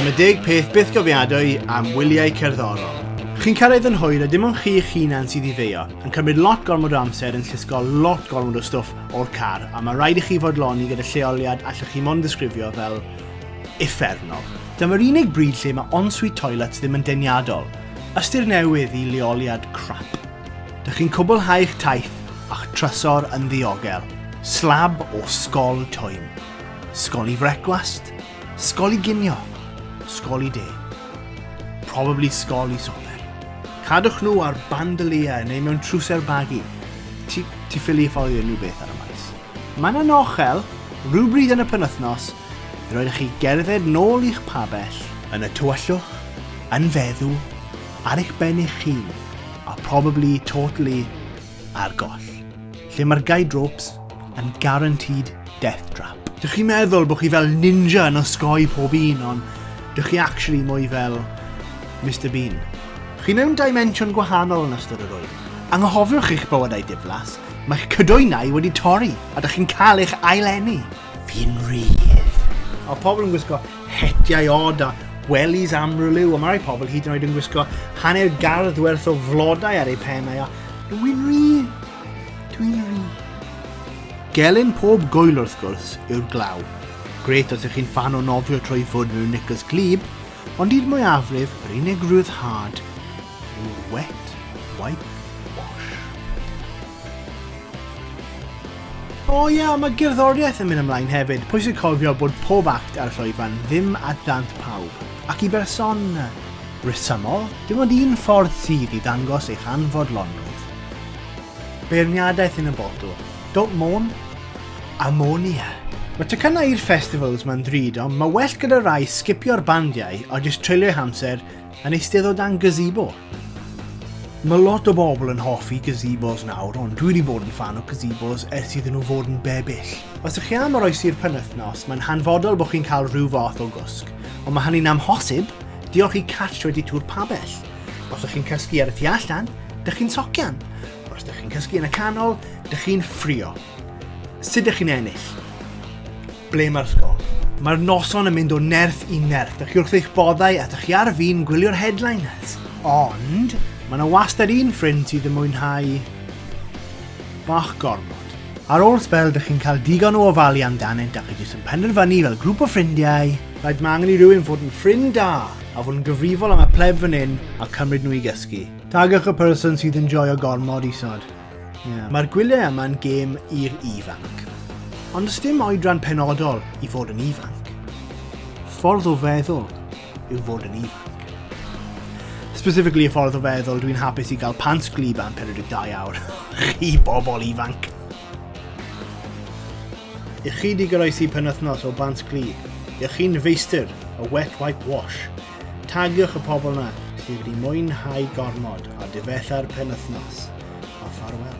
Dyma deg peth bythgofiadwy am wyliau cerddorol. Chi'n cael ei ddynhwyr a dim ond chi eich hunan sydd i feio, yn cymryd lot gormod o amser yn llusgo lot gormod o stwff o'r car a mae rhaid i chi fodloni gyda lleoliad allwch chi mond ddisgrifio fel effernol. Dyma'r unig bryd lle mae ensuite toilets ddim yn deniadol. Ystyr newydd i leoliad crap. Dych chi'n cwblhau'ch taith a'ch trysor yn ddiogel. Slab o sgol twym. Sgol i frecwast, sgol i ginio, sgol i de. Probably sgol i soper. Cadwch nhw ar bandoliau neu mewn trwser bagu. Ti, ti ffili ffoli unrhyw beth ar y maes. Mae yna nochel, rhywbryd yn y penwythnos, i roed chi gerdded nôl i'ch pabell, yn y tywyllwch, yn feddw, ar eich ben eich hun, a probably totally a'r goll, lle mae'r guide ropes yn guaranteed death trap. Dych chi'n meddwl bod chi fel ninja yn osgoi pob un, ond dych chi actually mwy fel Mr Bean. Chi mewn dimension gwahanol yn ystod yr oed. Anghofiwch eich bywydau diflas, mae'ch cydoenau wedi torri a dych chi'n cael eich ail-eni. Fi'n rhydd. Mae pobl yn gwisgo hetiau od a wellies amryliw, a mae rhai pobl hyd yn oed yn gwisgo hanner gardd werth o flodau ar eu pennau, a dwi'n ri, dwi'n ri. Gelyn pob goel wrth gwrs yw'r glaw. Gret os ych chi'n fan o nofio trwy ffwrdd mewn nicos glib, ond i'r mwyafrif, yr unig rhyddhad yw'r wet wipe wash. O oh, ie, yeah, mae gerddoriaeth yn mynd ymlaen hefyd. Pwysig cofio bod pob act ar y llwyfan ddim at ddant pawb. Ac i berson rhesymol, dim ond un ffordd sydd i ddangos eich anfodlonrwydd. Beirniadaeth yn y botw. Don't moan, ammonia. Mae tecynnau i'r festivals mae'n ddrud, ond mae well gyda rai sgipio'r bandiau a jyst treulio'u hamser yn eisteddod dan gazebo. Mae lot o bobl yn hoffi gazebos nawr, ond dwi wedi bod yn fan o gazebos ers iddyn nhw fod yn bebyll. Os ych chi am oroesi'r penwythnos, mae'n hanfodol bod chi'n cael rhyw fath o gwsg, ond mae hynny'n amhosib, diolch i Catch 22 Pabell. Os ych chi'n cysgu ar y tu allan, dych chi'n socian. Os ydych chi'n cysgu yn y canol, dych chi'n ffrio. Sut ydych chi'n ennill? Ble mae'r ysgol? Mae'r noson yn mynd o nerth i nerth. Dych chi wrth eich boddau a dych chi ar fin gwylio'r headliners. Ond, mae yna wastad un ffrind sydd yn mwynhau bach gormod. Ar ôl sbel, dych chi'n cael digon o ofalu amdanynt a chi jyst yn penderfynu fel grŵp o ffrindiau, rhaid mae angen i rywun fod yn ffrind da a fod yn gyfrifol am y pleb fan hyn a cymryd nhw i gysgu. Tagwch y person sydd yn joio gormod isod. Yeah. Mae'r gwyliau yma'n gêm i'r ifanc. Ond ys dim oedran penodol i fod yn ifanc. Ffordd o feddwl yw fod yn ifanc. Specifically y ffordd o feddwl, dwi'n hapus i gael pants glib am 42 awr. Chi bobl ifanc. I chi di goroesi penwthnos o bants glib, i chi'n feistr o wet wipe wash, Tagiwch y pobl 'na sydd wedi mwynhau gormod a difetha'r penwythnos, a ffarwel.